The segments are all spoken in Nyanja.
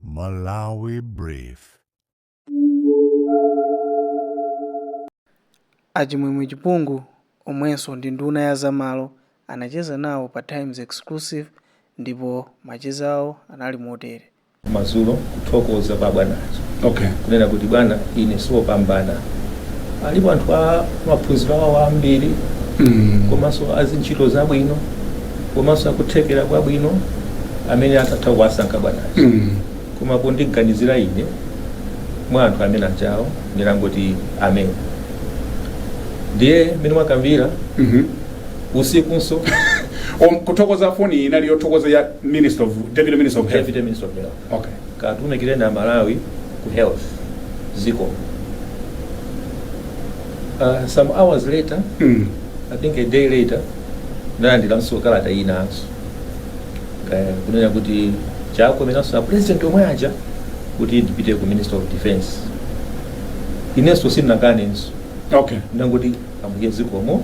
Malawi Brief. A Chimwemwe Chipungu omwenso ndi nduna ya zamalo anacheza nawo pa Times Exclusive ndipo macheza awo anali motere. madzulo kuthokoza kwa bwana aja Okay. kunena kuti bwana ine siwopambana alipo anthu a maphunziro awo ambiri Mm. komanso azintchito zabwino komanso akuthekera kwabwino amene akatha kuwasankha bwana mm. koma kundiganizira ine mwa anthu amene ajawo ndinangoti amen ndiye mmene mwakambira mm -hmm. usikunso kuthokoza foni inali yothokoza ya minister of deputy minister of health, minister of health. Okay. katumikireni aMalawi ku health zikomo uh, some hours later Mm. i think a day later ndalandiranso kalata inanso uh, kunena kuti chakomeranso a president omwe aja kuti ndipite ku ministry of defense inenso sindinakanenso Okay. ndangoti ambuye zikomo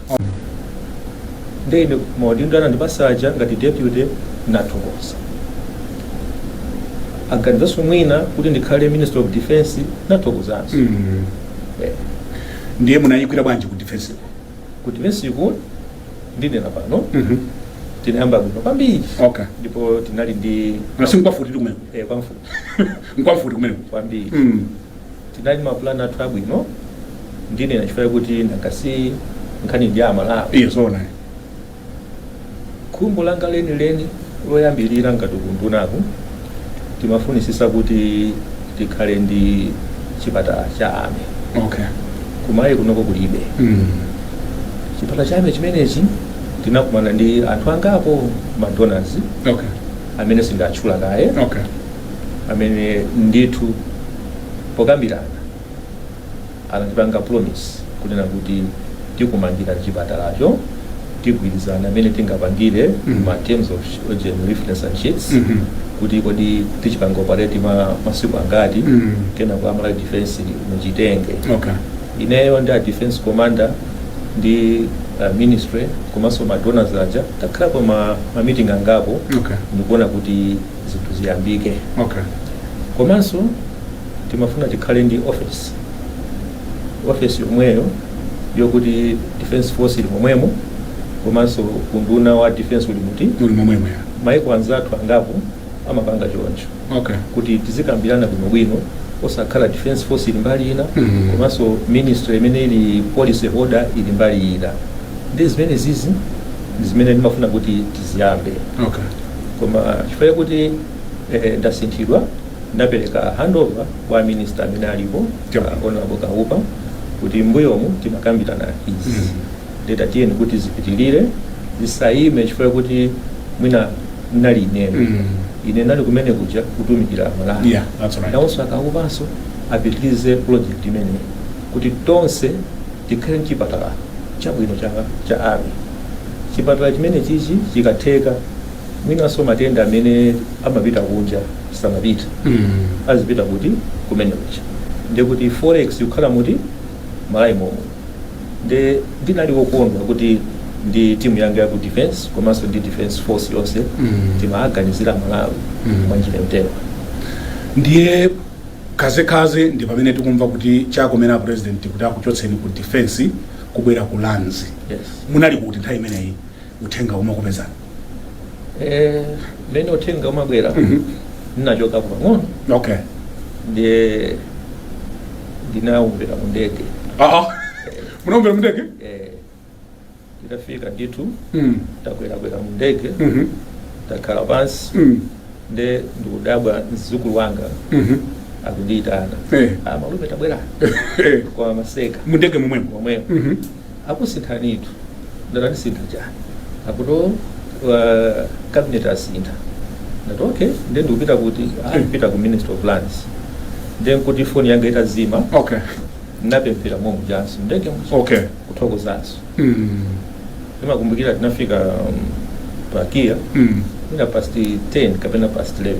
nde ine maudindo anandipasa aja ngati deputy nathokoza aganizanso mwina kuti ndikhale minister of defense nathokozanso Mm. Eh, ndiye munayigwira bwanji ku defense ku defense -ku ndinena pano Mhm. tinayamba bwino kwambiri okay ndipo tinali ndi nanga si nkwamfuti kumene eh, kwamfuti nkwamfuti kumene kwambiri Mm. Tinali ma plan athu abwino ndinena chifukwa chakuti nanga si nkhani ndi ya Malawi. Ee zoona. Khumbo langa lenileni loyambirira ngati kundunaku timafunitsitsa kuti tikhale ndi chipatala cha army. Okay. Ku Malawi kunoko kulibe. Mm. Chipatala cha army chimenechi tinakumana ndi anthu angapo ma donors Okay. amene sindiwatchula kaye. Okay. amene ndithu pokambirana anatipanga promise kunena kuti tikumangira chipatalacho tigwirizane mmene tingapangire Mhm. ma terms of oxygen reference and sheets Mhm. kuti kodi tichipanga operate masiku angati Mhm. kenako a Malawi defense muchitenge okay ineyo ndi a defense commander ndi uh, ministry komanso ma donors aja takhalapo ma, ma meeting angapo okay ndikuona kuti zinthu ziyambike okay komanso timafuna tikhale ndi office office yomweyo yokuti defense force ili momwemo komanso unduna wa defense uli muti muli momwemo ya maiko anzathu angapo amapanga choncho okay kuti tizikambirana bwinobwino osakhala defense force ili mbali ina Mhm. komanso ministry imene ili policy holder ili mbali ina ndi zimene zizi ndi zimene ndimafuna kuti tiziyambe okay koma chifukwa chakuti eh, ndasinthidwa ndapereka handover kwa minista amene alipo uh, honorable kaupa kuti mbuyomu timakambirana izi mm. ndeta tiyeni kuti zipitilire zisayime chifukwa chakuti mwina nali ineyo mm. ine nali kumene kuja kutumikira malawi yeah, right. nawonso a Kaupanso apitilize project imene kuti tonse Tikhale ndi chipatala chabwino cha Army. Chipatala chimenechichi chikatheka mwinanso matenda amene amapita kunja asamapite Mm. azipita kuti kumene kuja nde kuti forex ikukhala muti malawi momwe nde ndinali wokondwa kuti ndi timu yanga ya ku defense komanso ndi defense force yonse Mm. timaganizira malawi Mm. mwa njira yotero ndiye Kazekaze ndi pamene tikumva kuti chakomera a president kuti akuchotseni ku defense kubwera ku lands. Yes. Munali kuti nthawi imeneyi uthenga umakupezanani? Eh, mene uthenga umabwera Mhm. ndinachoka pang'ono Okay. ndiye ndinaumvera mu ndege Ah ah. Munaumvera mundege? Eh, Nditafika ndithu Mm. takwerakwera mu ndege Mhm. takhala pansi Mm. nde ndikudabwa mzukulu wanga Mhm. akundiyitana Eh. ah, malume tabwerani Eh. kwa maseka mundege momwemo momwemo Mhm. akusinthanitu ndati andisintha chani akuti uh, cabinet asintha ndati okay nde ndikupita kuti ah, mupita ku ministry of lands nde nkuti foni yanga itazima okay napemphera momwe mujanso mundege okay kuthokozanso ndimakumbukira tinafika um, pa kia Mm. mwina past 10 kapena past 11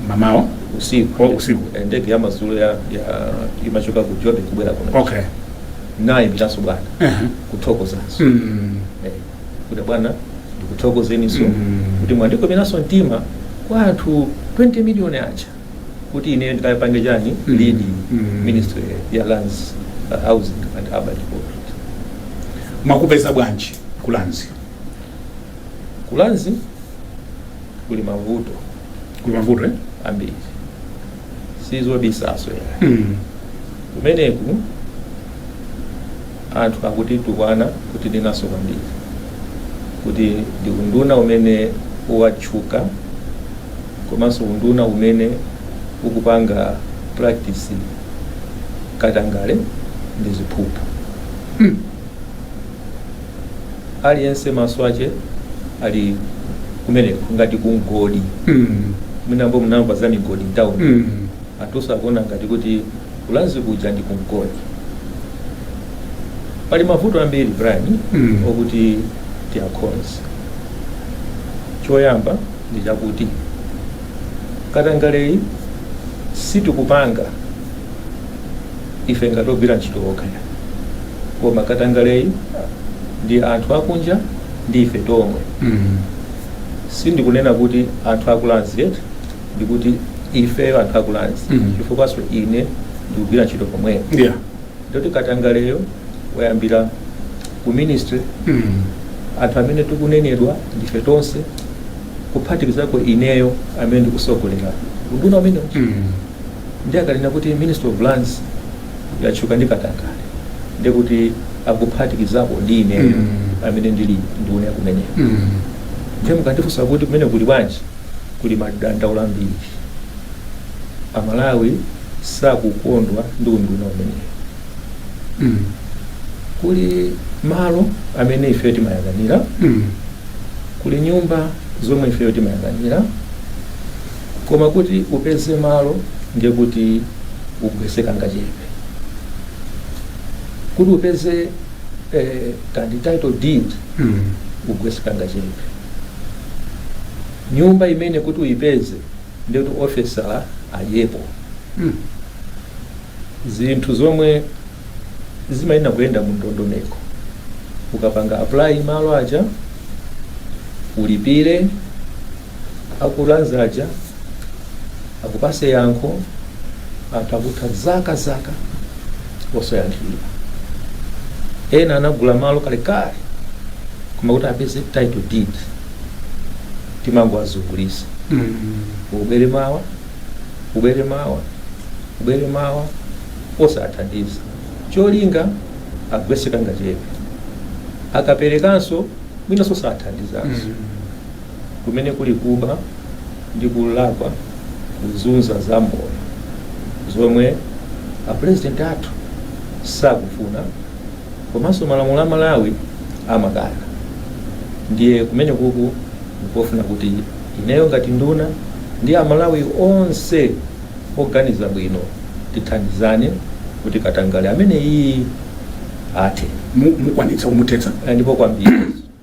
mamawa usiku Oh, usiku. Eh, ndege ya madzulo ya, ya imachoka ku jobe kubwera kuno okay nayimbiranso bwana Ehe. kuthokozanso Mm. Eh, kuti bwana ndikuthokozeninso Mm. kuti mwandikomeranso mtima kwa anthu 20 miliyoni aja kuti ine ndikapange chani Mm. lead Mm. ministry ya lands uh, housing and urban development mwakupeza bwanji ku lands ku lands kuli mavuto kuli mavuto eh? ambiri sizobisaso ya mm. kumeneku Anthu akutitukwana kutinenanso kwambiri kuti ndi unduna umene watchuka komanso unduna umene ukupanga practice katangale ndi ziphuphu. Aliyense maso ache ali kumeneko ngati kumgodi. Mwinanso munamva za migodi mtauni. Anthuso akuona ngati kuti ku Lands kuja ndi kumgodi. Pali mavuto ambiri Brian mm. okuti tiakonze. Choyamba ndi chakuti katangaleyu sitikupanga ife ngati ogwira ntchito okha, koma katangaleyu ndi anthu akunja ndi ife tomwe mm. Sindikunena kuti anthu aku Lands eti ndikuti ifeyo anthu aku Lands Mhm. chifukwanso ine ndikugwira ntchito komweko yeah ndoti katangaleyo wayambira ku ministry mm. anthu amene tikunenedwa ndife tonse kuphatikizako ineyo amene ndikusogolera unduna umene Mm. ndi akanena kuti Ministry of Lands yatchuka ndi katangale ndikuti akuphatikizako ndi ineyo Mm. amene ndili nduna kumeneko Mm. ndiye mukandifunsa kuti kumene kuli bwanji kuli madandaulo ambiri. Amalawi sakukondwa ndi unduna umenewo. Mm. Kuli malo amene ifeyo timayang'anira, Mm. kuli nyumba zomwe ifeyo timayang'anira, koma kuti upeze malo ndiye kuti ugwetse kangachepe. Kuti upeze eh, kandi title deed Mm. ugwetse kangachepe. nyumba imene kuti uyipeze ndiyoti ofisala adyepo Mm. zinthu zomwe zimayenera kuyenda mu ndondomeko ukapanga apply malo aja ulipire aku Lands aja akupase yankho anthu akutha zaka zaka osayankhidwa ena anagula malo kalekale koma kuti apeze title deed timangowazungulitsa ubwere mawa ubwere mawa ubwere mawa osawathandiza cholinga agwetse kangachepe akaperekanso mwinanso sathandizanso kumene kuli kuba Ndikulakwa kuzunza a Malawi zomwe a president athu sakufuna komanso malamulo a Malawi amakana ndiye kumenekuku nkofuna kuti ineyo ngati nduna ndi a Malawi onse oganiza bwino tithandizane kuti katangale ameneyu athe Mu- Mukwanitsa kumuthetsa? Eh, ndipo kwambiri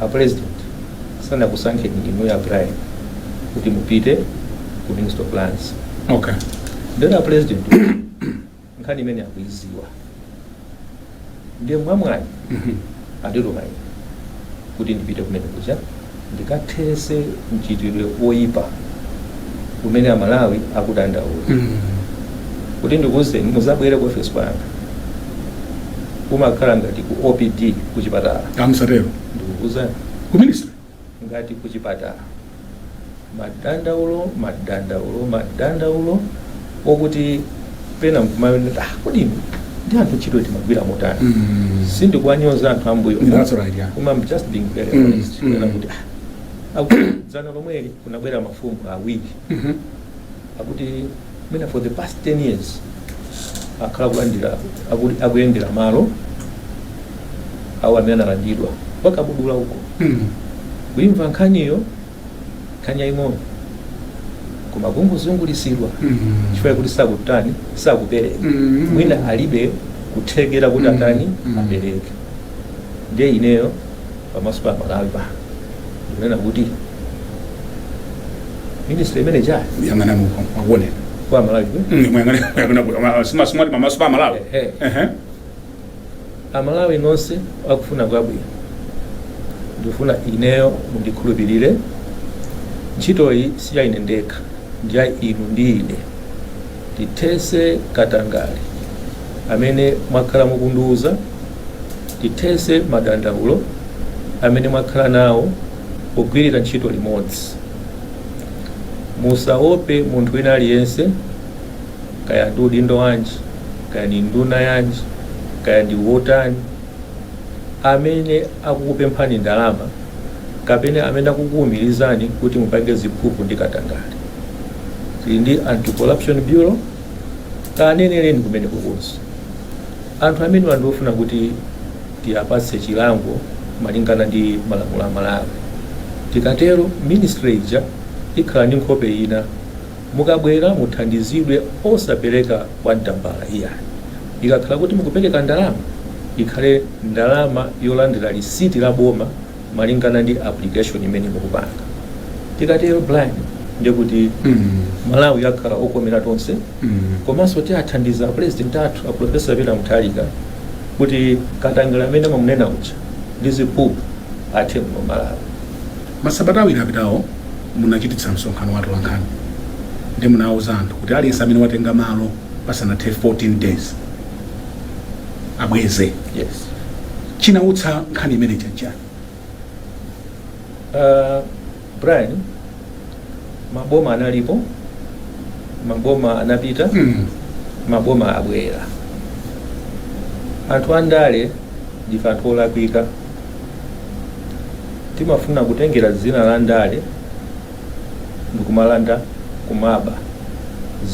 a president sanakusankheni inuyo a Brian kuti mupite ku ministry of lands okay ndiye a president nkhani imene akuiziwa ndiye mwamwayi andituma ine kuti ndipite kumene kuja ndikathese mchitidwe oyipa kumene amalawi akudandaula kuti ndikuwuzeni muzabwere ku ofesi kwanga umakhala ngati ku opd kuchipatala musatero ndikukuuzani ku ministry ngati kuchipatala madandaulo madandaulo madandaulo okuti pena nkumawonera ah, kodi inu ndi anthu ntchito timagwira motani Mm. sindikuwanyoza anthu ambuyo That's right, yeah. koma I'm just being very Mm, honest mm. Kunena kuti ah, dzana lomweli kunabwera mafumu awiri Mhm. akuti mwina for the past 10 years akhala kulandira akuti akuyendera malo awo amene analandidwa akabudula uko kuimva nkhaniyo nkhani yaying'ono koma kungozungulisidwa chifukwa choti sakutani sakupereka Mhm. mwina alibe kuthekera kuti Mhm. atani Mhm. apereke ndiye ineyo pamaso pa amalawi pano ndikunena kuti ministry imene cha yang'anani uko akuone kwa amalawi Mm, muyang'ane- muyang'ane kuti ama- sima- simwati pamaso pa amalawi Ehe. Ehe. amalawi nonse akufuna kwabwino ndikufuna ineyo mundikhulupirire ntchitoyi si ya ine ndekha ndi ya inu ndi ine tithese katangale amene mwakhala mukundiuza Tithetse madandaulo amene mwakhala nawo pogwirira ntchito limodzi. Musaope munthu wina aliyense, kaya ndi udindo wanji, kaya ndi nduna yanji, kaya ndi wotani, amene akukupemphani ndalama kapena amene akukuumirizani kuti mupange ziphuphu ndi katangale. Tili ndi Anti-Corruption Bureau. Kaneneleni kumeneku kuti anthu amenewa ndiofuna kuti tiapatse chilango malingana ndi malamulo a Malawi. Tikatero ministry ija ikhala ndi nkhope ina. Mukabwera muthandizidwe osapeleka kwamtambala iyayi. Ikakhala kuti mukupeleka ndalama ikhale ndalama yolandira lisiti la boma. malingana ndi application imene mukupanga tikatero Brian ndiye kuti malawi akhala okomera tonse komanso tiathandiza a president athu aprofesa Peter Mutharika kuti katangale amene amamunena uja ndi ziphuphu athe muno malawi masabata awiri apitawo munachititsa msonkhano wa atolankhani ndipo munawuza anthu kuti aliyense amene watenga malo pasanathe 14 days abweze yes chinautsa nkhani imene ija nchani Uh, brian maboma analipo maboma anapita mm. maboma abwera anthu andale ndife anthu olakwika timafuna kutengera dzina la ndale ndikumalanda kumaba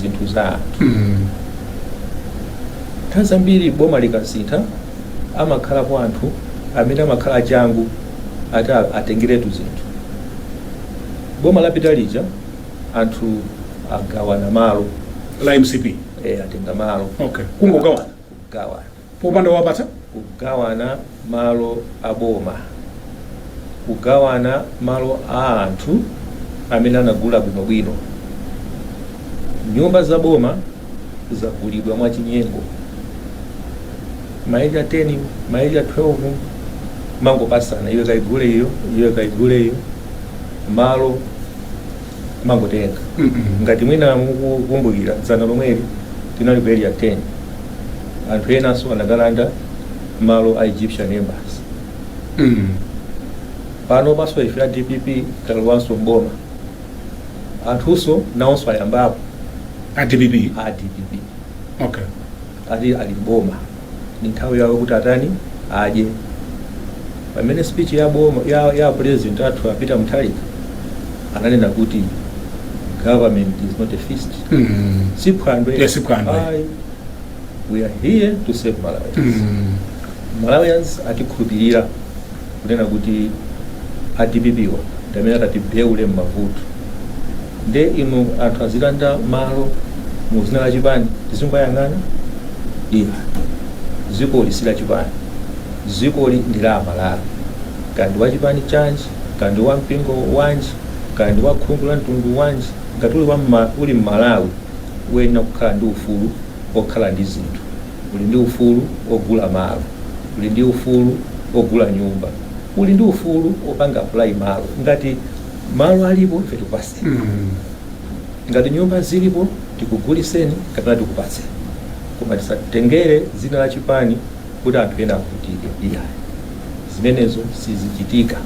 zinthu za anthu Mm. nthawi zambiri boma likasintha amakhalapo anthu amene amakhala achangu ati a- atengeretu zinthu boma lapita lija anthu agawana malo la mcp eh, atenga malo okay kungogawana gawana popanda owapatsa. kugawana malo a boma, kugawana malo a anthu amene anagula bwinobwino. Nyumba za boma zagulidwa mwachinyengo, ma area 10 ma area 12 mangopasana, iwe kaigule iyo, iwe kaigule iyo, malo kumangotenga ngati mwina mukukumbukira dzana lomweli tinali ku area 10 anthu enanso anakalanda malo a egyptian embassy panopanso ife a dpp talowanso mboma anthunso nawonso ayambapo a dpp a dpp okay ati ali mboma ndi nthawi yawo kuti atani adye pamene speech ya boma ya, ya president athu a peter mutharika ananena kuti government is not a feast Mm. si phwando Yeah, si phwando. Ayi. we are here to serve malawians Mm. malawians atikhulupirira kunena kuti a dpp-wa ndi amene atatibeule m'mavuto nde inu anthu azilanda malo mu zina la chipani tizingoyang'ana iyayi zikoli si la chipani zikoli ndi la amalawi kaya ndi wa chipani chanji kaya ndi wa mpingo wanji kaya ndi wa khungu la mtundu wanji ngati uli, wa mma, uli mmalawi uyenera kukhala ndi ufulu okhala ndi zinthu Uli ndi ufulu ogula malo. Uli ndi ufulu ogula nyumba. Uli ndi ufulu opanga apply malo. Ngati malo alipo ife tikupaseni. Ngati nyumba zilipo tikuguliseni kapena tikupatseni. Koma tisatengere dzina la chipani kuti anthu ena avutike iyayi. Zimenezo sizichitika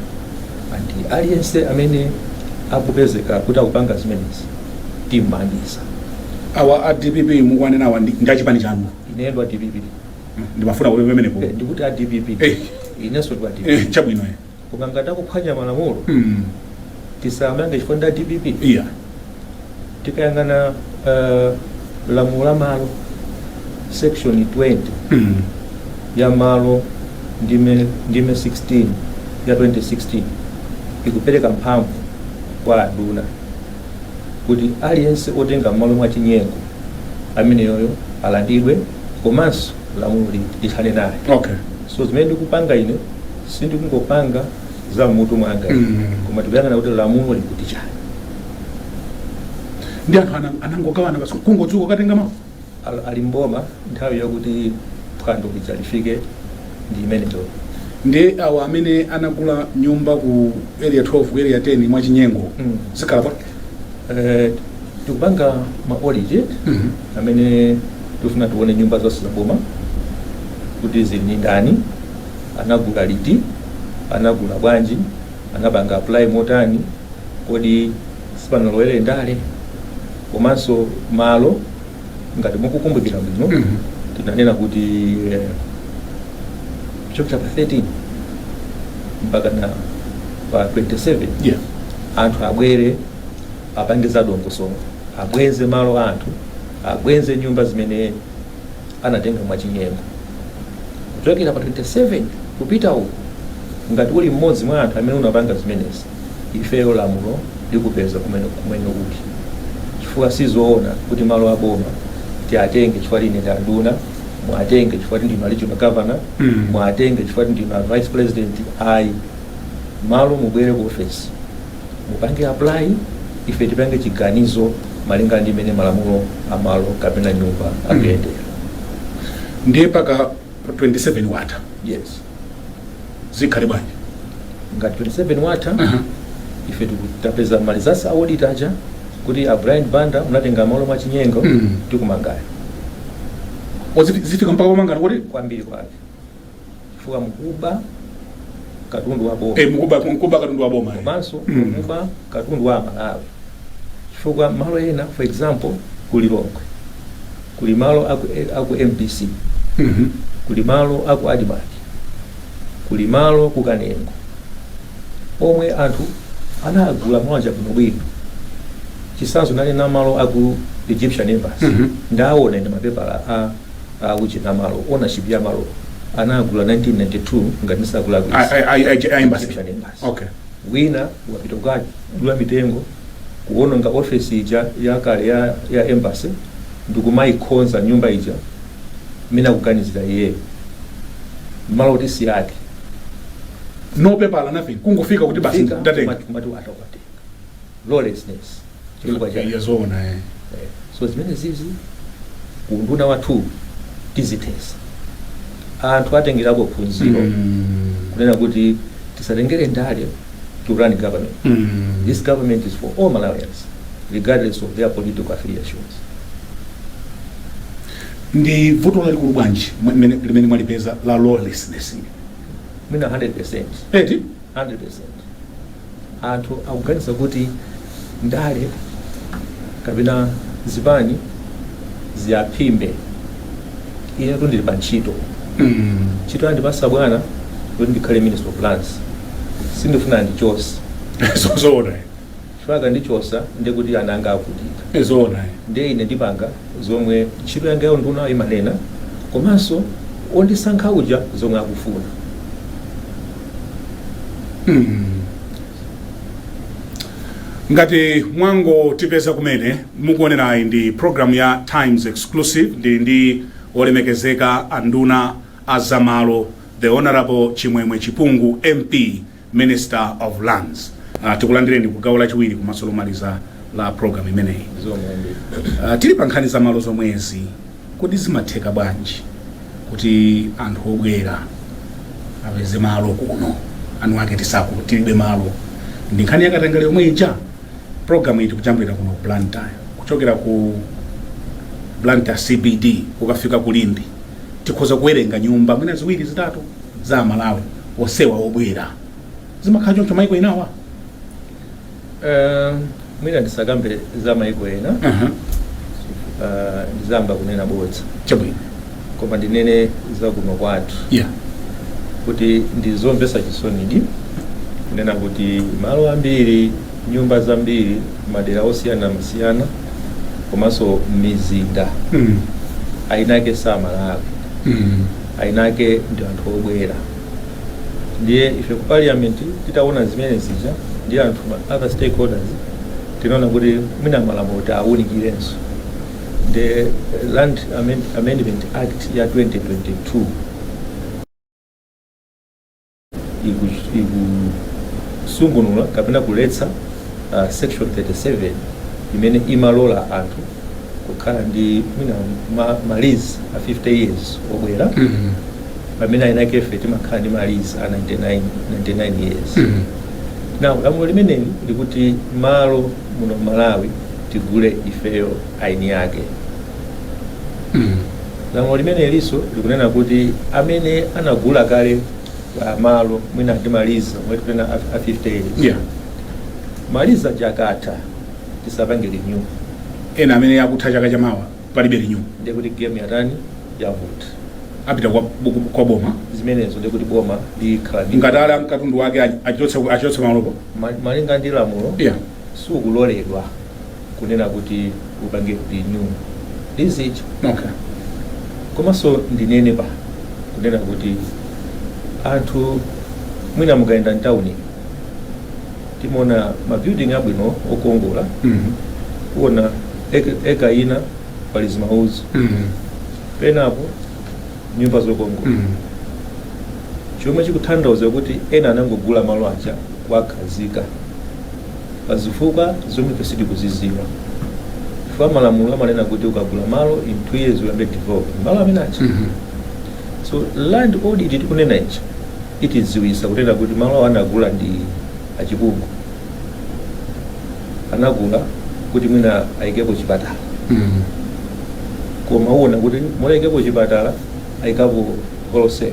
and aliyense amene akupezeka kuti akupanga zimenezi. timmangitsa awa a dpp mukuwanenawa ndi achipani chanu ine ndi wa dpp ndimafuna kuti pamenepo Eh, ndikuti a dpp Eh. inenso ndi wa dpp Eh, chabwino eh. koma ngati akuphwanya malamulo Mm, tisamange chifukwa ndi a dpp iyayi tikayang'ana eh, lamulo la malo section 20 Mm, ya malo ndime ndime 16 ya 2016 ikupereka mphamvu kwa anduna kuti aliyense otenga malo mwa chinyengo ameneyoyo alandidwe komanso lamulo lithane naye okay so zimene ndikupanga ine sindikungopanga za mmutu mwanga Mm. koma tikuyang'ana kuti lamulo likuti chani ndi anthu ana- anangogawana basi kungodzuka kutenga malo Ali m'boma nthawi yokuti phwando lija lifike ndi imeneyo. Ndiye awa amene anagula nyumba ku area 12 ku area 10 mwa chinyengo Mm. zikhala bwa Eh, tikupanga ma audit Mhm. amene tifuna tione nyumba zonse za boma kuti zili ndi ndani anagula liti anagula bwanji anapanga apply motani kodi sipanalowere ndale komanso malo ngati mukukumbukira bwino Mhm. tinanena kuti eh, kuchokera pa 13 mpakana pa 27 Yeah. anthu abwere apange za dongosolo abweze malo a anthu abweze nyumba zimene anatenga mwachinyengo. Kuchokera pa 27 kupita uku, ngati uli mmodzi mwa anthu amene unapanga zimenezi, ifeyo lamulo likupeza komwe uli, chifukwa si zoona kuti malo a boma tiatenge chifukwa ine ndi anduna, muatenge chifukwa kuti ndinu a regional governor, muatenge chifukwa kuti ndinu a vice president. Ayi, malo mubwere ku ofesi. mupange apply ife tipange chiganizo malinga ndi mmene malamulo a malo kapena nyumba akuyendera ndiye pa ka 27 watha yes zikhale bwanji ngati 27 watha Aha. ife tiku- tapeza ma results a audit aja kuti a brian banda unatenga malo mwa chinyengo Mm. tikumangani O, ziti- zifika mpaka pomangana kodi kwambiri kwake chifukwa n'kuba katundu wa boma Eh, n'kuba n'kuba katundu wa boma. eh. komanso Mm. n'kuba katundu wa amalawi chifukwa malo ena for example ku lilongwe kuli malo aku, eh, aku mbc Mhm. kuli malo aku admarc kuli malo ku kanengo omwe anthu analanda malo aja bwinobwino chitsanzo ndanena malo aku egyptian embassy Mhm. ndaaona mapepala a a uchina malo ownership ya malo anagula 1992 ngati ndisakulakwisa A- a- a- a- a embassy. Egyptian embassy. Okay. wina wapita kukadula mitengo kuononga ofesi ija yakale ya, ya embassy ndikumayikhonza nyumba ija mwina kuganizira iyeyo malo kuti si ake no paper nothing kungofika kuti basi Fika, ndatenga kumati- kumati atakwate lawlessness chifukwa cha Iya zoona eh. so zimene zizi unduna wathu tizithesa anthu atengerapo phunziro Mm. kunena kuti tisatengere ndale to run government Mm. this government is for all malawians regardless of their political affiliations ndi vuto lalikulu bwanji mmene- limene mwalipeza la lawlessness mwina 100 eti 100% anthu akuganiza kuti ndale kapena zipani ziyaphimbe inetu ndili pa ntchito ntchito andipasa bwana kuti ndikhale minister of lands sindifuna andichose zoona Chifukwa akandichosa ndiye kuti ana anga avutika. Ee zoona ee. Ndiye ine ndipanga zomwe ntchito yanga ya unduna imanena komanso wondisankha uja zomwe akufuna. Ngati mwangotipeza kumene mukuonerayi ndi program ya Times Exclusive ndili ndi olemekezeka anduna a zamalo the Honorable Chimwemwe Chipungu MP Minister of Lands. Uh, tikulandireni ku gawo lachiwiri komanso lomaliza la program imeneyi. Uh, tili pa nkhani za malo zomwezi kodi zimatheka bwanji kuti anthu obwera apeze malo kuno eni ake tizika tilibe malo ndi nkhani yakatangale yomwe ija, program iyi tikujambulira kuno ku Blantyre kuchokera ku Blantyre CBD kukafika ku Limbe tikhoza kuwerenga nyumba mwina ziwiri zitatu za amalawi onsewa obwera zimakhala choncho maiko enawa Eh, mwina ndisakambe za maiko ena Aha, eh, ndizayamba kunena bodza chabwino koma ndinene za kuno kwathu ya kuti ndizomvesa chisonidi kunena kuti malo ambiri nyumba zambiri madera osiyanasiyana komanso mizinda Mm, eniake samalawi mm, eniake ndi anthu obwera ndiye ife ku parliament titaona zimene zija ndi anthu ma other stakeholders tinaona kuti mwina malamulo tiawunikirenso the land Amend- amendment act ya 2022 ikusungunula kapena kuletsa uh, section 37 imene imalola anthu kukhala ndi mwina ma, malizi a 50 years obwera mm -hmm. pamene eni ake ife timakhala ndi malizi a 99, 99 years mm -hmm. now lamulo limeneli likuti malo muno malawi tigule ifeyo eni ake lamulo limenelinso likunena kuti amene anagula kale ah, malo mwina ndi malizi omwe tikunena a- a 50 years yeah malizi aja akatha tisapange renew ena amene akutha chaka chamawa palibe renew ndiye kuti game yatani yavuta apita kwa, kwa boma zimenezo ndiye kuti boma likhala ndi- ngati ali ndi katundu wake achotse achotse malopo Ma- malinga ndi lamulo yeah sukuloledwa kunena kuti upange renew is it Okay. komanso ndinene pa kunena kuti anthu mwina mukayenda mtawuni timaona mabuilding abwino okongola Mhm. kuona ek- ekala ina pali zimauzi Mhm. penapo nyumba zokongola Mhm. chomwe chikutanthauza kuti ena anangogula malo aja kuwakhazika pa zifukwa zomwe ife sitikuzidziwa chifukwa malamulo amanena kuti ukagula malo in two years uyambe develop malo amene aja so land audit tikunena ichi itidziwisa kunena kuti malo awo anagula ndi achiphungu anagula kuti mwina ayikepo chipatala koma uona kuti m'malo ayikepo chipatala ayikapo wholesale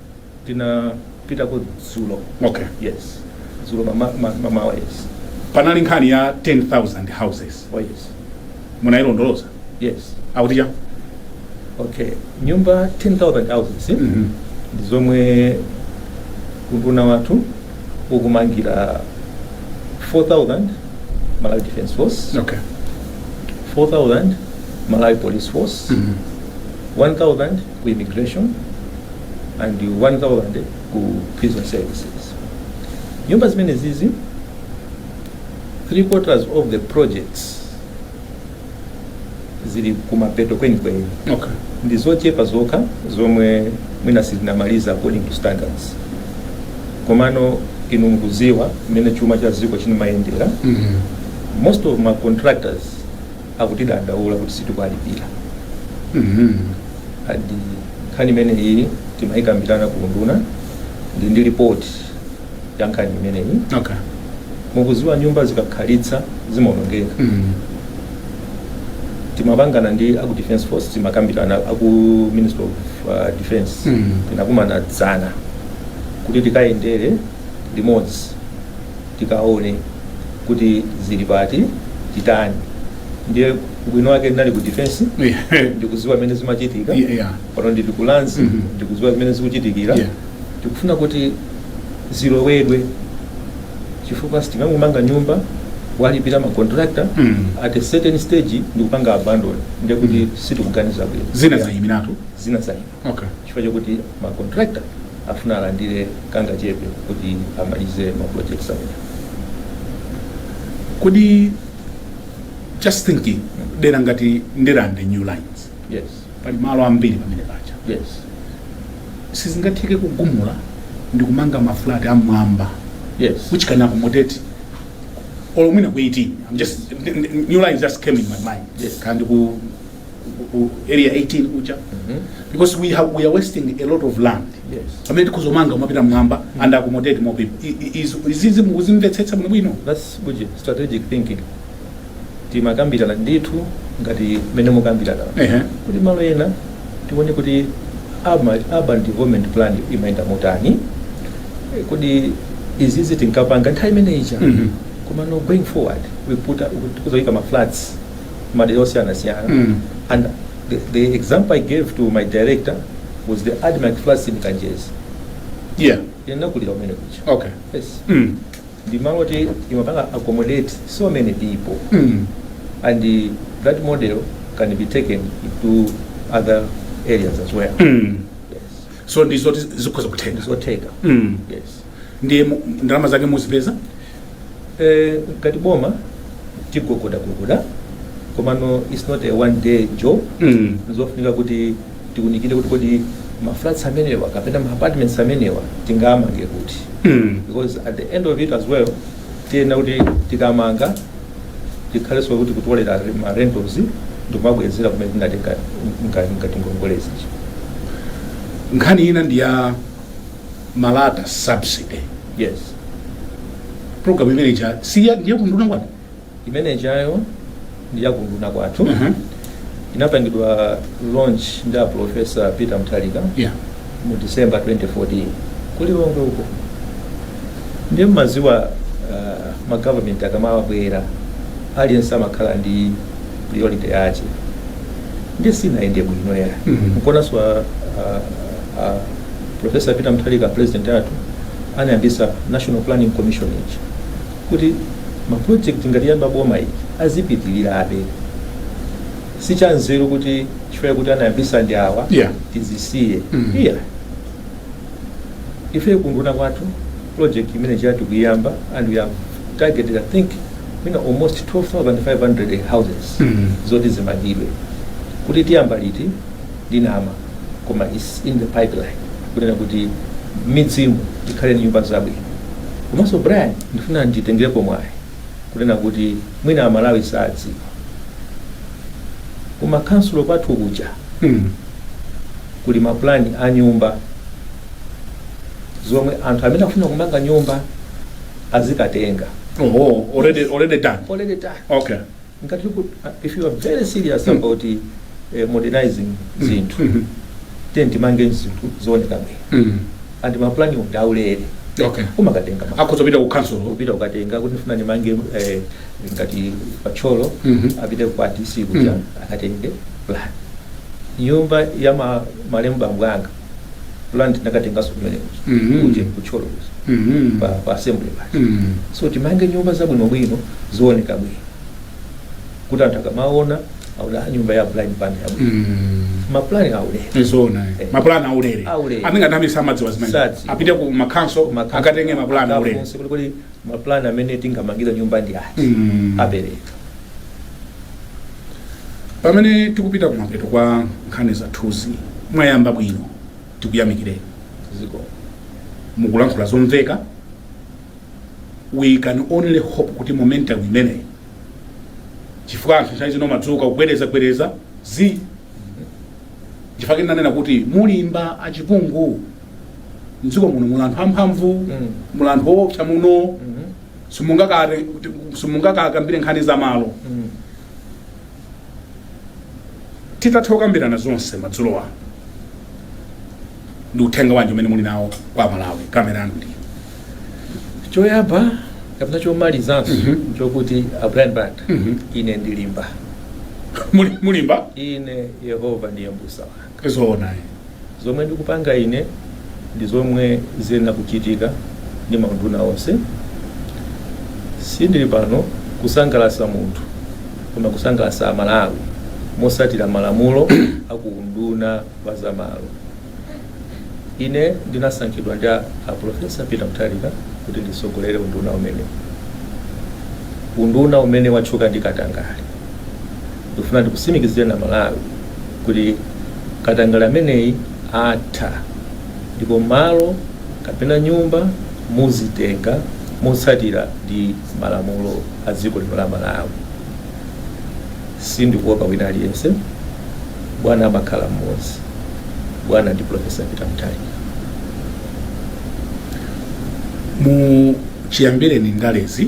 tinapitako dzulo Okay. yes dzulo mama- ma- mamawa yes panali nkhani ya 10000 houses oh yes munayilondoloza yes akuti chani okay nyumba 10000 houses eh? Mhm. ndi zomwe unduna wathu ukumangira 4000 malawi defense force okay 4000 malawi police force Mhm. 1000 ku immigration and 1000 ku prison services nyumba zimenezizi three quarters of the projects zili kumapeto kwenikweni okay ndi zochepa zokha zomwe mwina sitinamalize according to standards komano inu mukudziwa mmene chuma cha dziko chinayendera mm -hmm. most of ma contractors akutidandaula kuti sitikuwalipira and nkhani imeneyi timayikambirana ku unduna ndi ndi report ya nkhani imeneyi okay mukuziwa nyumba zikakhalitsa zimaonongeka mm. timapangana ndi aku defense force timakambirana aku ministry of uh, defense Mm. tinakumana dzana kuti tikayendere limodzi tikaone kuti zili pati titani ndiye ubwino wake ndinali ku defense Yeah. ndikuziwa mmene zimachitika Yeah, yeah. pano ndili ku lands Mhm. ndikuziwa zimene zikuchitikira Yeah. tikufuna kuti zilongosoledwe chifukwa sitingangomanga nyumba kuwalipira macontractor Mm. at a certain stage ndikupanga abandon ndekuti sitikuganiza bwino zina zayimiratu zina zayi Okay. chifukwa chokuti ma contractor afuna alandire kangachepe kuti amalize ma projects amenewa kodi just thinking dera ngati ndirande new lines yes pali malo ambiri pamene paja yes sizingatheke kugumula ndi kumanga mafulati amwamba yes which can accommodate or mwina ku 18 I'm just n- n- new lines just came in my mind Yes. kapena ku ku area 18 kuja because we have we are wasting a lot of land Yes. pamene tikhoza kumanga kumapita mmwamba and accommodate more people I- i- izi- izizi mukuzimvetsetsa bwino bwino that's good strategic thinking timakambirana ndithu ngati mmene mukukambiramo ehe kuti malo ena tione kuti urban urban development plan imayenda motani Eh, kuti izizi tinkapanga nthawi imene ija Mhm. komano going forward we put up- tikudzaika ma flats madera osiyanasiyana Mm. and the, the example i gave to my director was the admarc flats in kanjedza yeah ndinakulira kumene kuja okay yes mm. ndi malo oti imapanga accommodate so many people Mm. and uh, that model can be taken to other areas as well Mm. yes so ndizoti zikhoza kutheka zotheka mm. yes ndiye mu- ndalama zake muzipeza Eh, ngati boma tigogodagogoda komano its not a one day job Mm. zofunika kuti tiunikire kuti kodi maflats amenewa kapena maapartments amenewa tingamange kuti Mm. because at the end of it as well tiyenera kuti tikamanga tikhalenso kuti kutolera ma rentals ndikumabwezera kumene tinatenga ngati ngongolezi nkhani ina ndi ya malata subsidy yes program imene ija si ya ndi ya kuunduna kwanu imene ijayo ndi ya kuunduna kwathu Mhm. inapangidwa launch ndi a professor Peter Mutharika yeah mu december 2014 ku Lilongwe uko ndiye mmadziwa uh, magovernment akamabwera aliyense amakhala ndi priority yake ndiye sinayende bwino ya Mhm. n'konso a, a, a Professor Peter Mutharika president athu anayambisa National Planning Commission ija kuti ma project ngati yayamba boma ili azipitilirabe. Si chanzeru kuti chifukwa kuti anayambisa ndi awa Yeah. tizisiye. Mm. Iya. Ife kuunduna kwathu project imene ija tikuyamba and we have targeted I think mwina almost 12,500 houses Mm. zoti zimangidwe kuti tiyamba liti ndinama koma its in the pipeline kunena kuti m'midzimu tikhale ndi nyumba zabwino komanso brian ndifuna nditengerepo mwayi kunena kuti mwina amalawi sadziwa kuma kansulo kwathu kuja kuli mapulani a nyumba zomwe anthu amene akufuna kumanga nyumba azikatenga oh, already, already done already done okay ngati ku- uh, if you are very serious Mm. about eh, modernizing zinthu Mhm. then timange zinthu zooneka bwino Mm. and mapulani ndi aulere okay kumakatenga ma- akhoza kupita ku council kupita kukatenga kuti ndifuna ndimange eh, ngati pa Thyolo Mhm. apite kwa dc kuja Mm. akatenge plan nyumba ya ma- malemu bambo anga plan tinakatenganso kumene kuja Mhm. kuti ku Thyolo kuja Mhm. pa pa assembly paja Mhm. so timange nyumba zabwinobwino zooneka bwino kuti anthu akamaona aoda nyumba ya Brian Banda yabwino Mhm. maplani aulere Ndi zoona. Eh. Mapulani aulere. Aulere. Amene ngati amisa amadziwa zimene. Sadzi. Apite ku makhansulo akatenge mapulani aulere. Akafunse kuti kodi maplani amene tingamangire nyumba ndi ati Mhm. apereka pamene tikupita kumapeto kwa nkhani zathuzi mwayamba bwino tikuyamikireni zikomo mukulankhula zomveka we can only hope kuti momentum imeneyi chifukwa anthu nthawi zina mumadzuka kubwereza bwereza zi chifukwa ndinanena kuti mulimba a Chipungu mdziko muno muli anthu amphamvu Mm. muli anthu oopsa muno Mhm. simungakare kuti- simungakakambire nkhani za malo Mm. titatha kukambirana zonse madzulo ano ndi uthenga wanji umene muli nawo kwa aMalawi kamera yanu ndi iyi choyamba kapena chomalizanso Mhm. chokuti a brian banda Mhm. ine ndilimba Muli- mulimba ine yehova ndiye mbusa wanga zoona ayi. Zomwe ndikupanga ine ndi zomwe ziyenera kuchitika ndi maunduna onse. Sindili pano kusangalatsa munthu koma kusangalatsa Amalawi motsatira malamulo a ku unduna wa zamalo. Ine ndinasankhidwa ndi a Professor Peter Mutharika kuti nditsogolere unduna umenewu, unduna umene watchuka ndi katangale. Ndikufuna ndikutsimikizireni Amalawi kuti katangale ameneyi atha ndipo malo kapena nyumba muzitenga motsatira ndi malamulo a dziko lino la Malawi. Sindikuopa wina aliyense. Bwana amakhala mmodzi. Bwana ndi Pulofesa Peter Mutharika. Mu chiyambireni ndalezi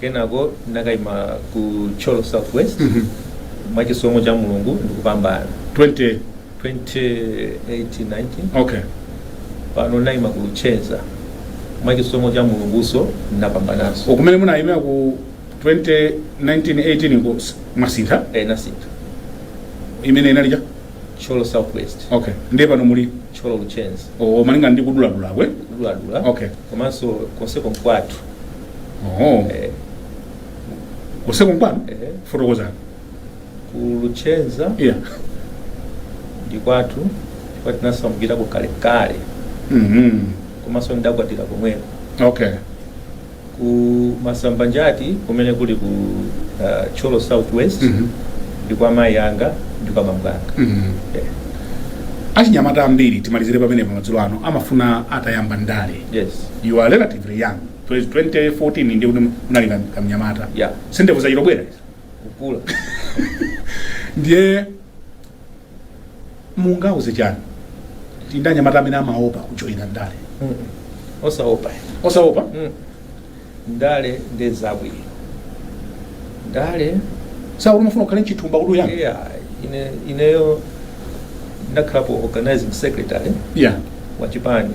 kenako ndinakaima ku Thyolo south west mwachisomo cha mulungu ndikupambana 20 2018-19 okay pano naima ku Luchenza mwachisomo cha mulunguso ndinapambananso kumene munayimira ku 2019-18 ko s- mwasintha e nasintha imene inali ija Thyolo south west okay ndiye pano muli Thyolo Luchenza o malinga ndi kuduladula kwe kuduladula Okay. komanso konseko nkwathu Oh. Eh, Konseko nkwanu? eh, Fotokozani. ku Luchenza Yeah. ndi kwathu chifukwa tinasamukirako kalekale Mhm. komanso ndidakwatira komweko Okay. ku Masambanjati kumene kuli ku uh, Thyolo southwest Mhm. ndi kwa mayi anga ndi kwa bambo anga Mhm. Eh, Achinyamata ambiri timalizire pamenepo madzulo ano amafuna atayamba ndale. yes You are relatively young. Bwezi 2014 ndiye kuti munali kam- kamnyamata Yeah. si ndevu zachitobwera izi. kukula ndiye mungauze chani kuti ndi anyamata amene amaopa kujoyina ndale Mm-mm. osaopa osaopa Mm. ndale ndi zabwino ndale sikuti umafuna ukhale nchithumba kuti uyambe yeah, ine, ineyo ndakhalapo organizing secretary yeah. wa chipani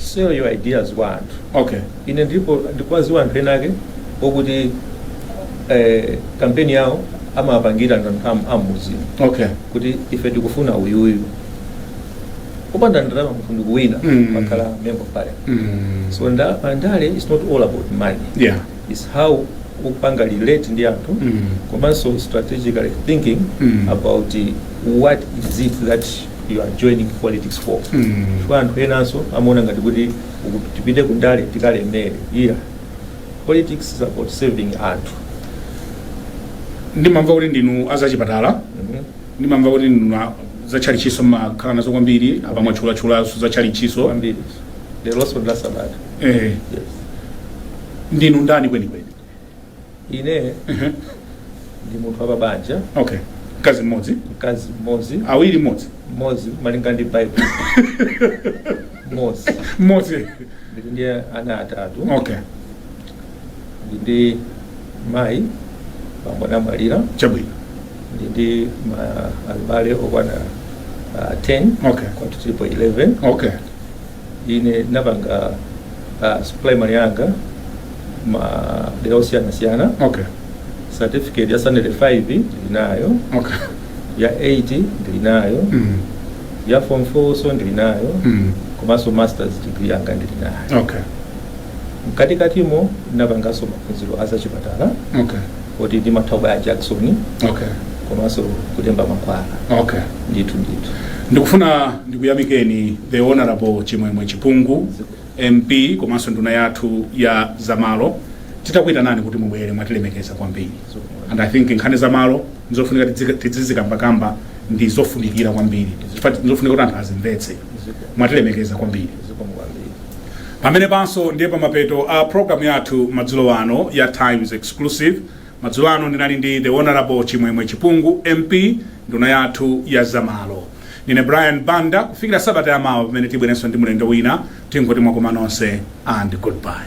sell your ideas kwa anthu okay ine ndipo ndikuwaziwa anthu ena ake okuti eh, kampeni yawo amapangira anthu am- ammudzi okay kuti ife tikufuna uyuyu kupanda ndalama munthu ndikuwina Mm. makhala member of parliament mm. so nda- pandale is not all about money yeah it's how upanga relate ndi anthu Mm. komanso strategically thinking Mm. about eh, what is it that you are joining politics for Mm. chifukwa anthu enanso amaona ngati kuti uku- tipite kundale tikalemere iya politics is about serving anthu ndimamva kuti ndinu azachipatala Mhm. ndimamva kuti ndinu a- zatchalitchiso makhala nazo kwambiri apa mwatchulatchulaso zatchalitchiso kwambiri lero la sabata eh, yes ndinu ndani kwenikweni ine ndi munthu wapabanja okay mkazi mmodzi mkazi mmodzi awiri mmodzi mmodzi malinga ndi bible mmodzi mmodzi ndili ndi ana atatu okay ndili ndi mayi bambo anamwalira chabwino ndili ndi ma- abale okwana ah, 10 Okay. kwathu tilipo 11 okay ine napanga uh, primary yanga madera osiyanasiyana okay certificate ya standard 5 ndili nayo okay ya 8 ndili nayo mm. ya form 4 so ndili nayo Mm. komanso masters degree yanga ndili nayo okay Mkatikatimo napanganso maphunziro a zachipatala Okay. kuti ndimatha kubaya jakisoni Okay. komanso kulemba mankhwala Okay. ndithu ndithu ndikufuna ndikuyamikeni the honorable chimwemwe chipungu mp komanso nduna yathu ya zamalo titakuyitanani kuti mubwere mwatilemekeza kwambiri and i think nkhani zamalo ndizofunika tidzika- tidzizikambakamba ndizofunikira kwambiri Chifukwa ndizofunika kuti anthu azimvetse mwatilemekeza kwambiri pamenepanso ndiye pamapeto a program yathu madzulo ano ya times exclusive madzulo ano ndinali ndi the honorable chimwemwe chipungu mp nduna yathu ya zamalo ndine brian banda kufikira sabata yamawa pamene tibwerenso ndi mlendo wina tingoti mwakoma nonse and goodbye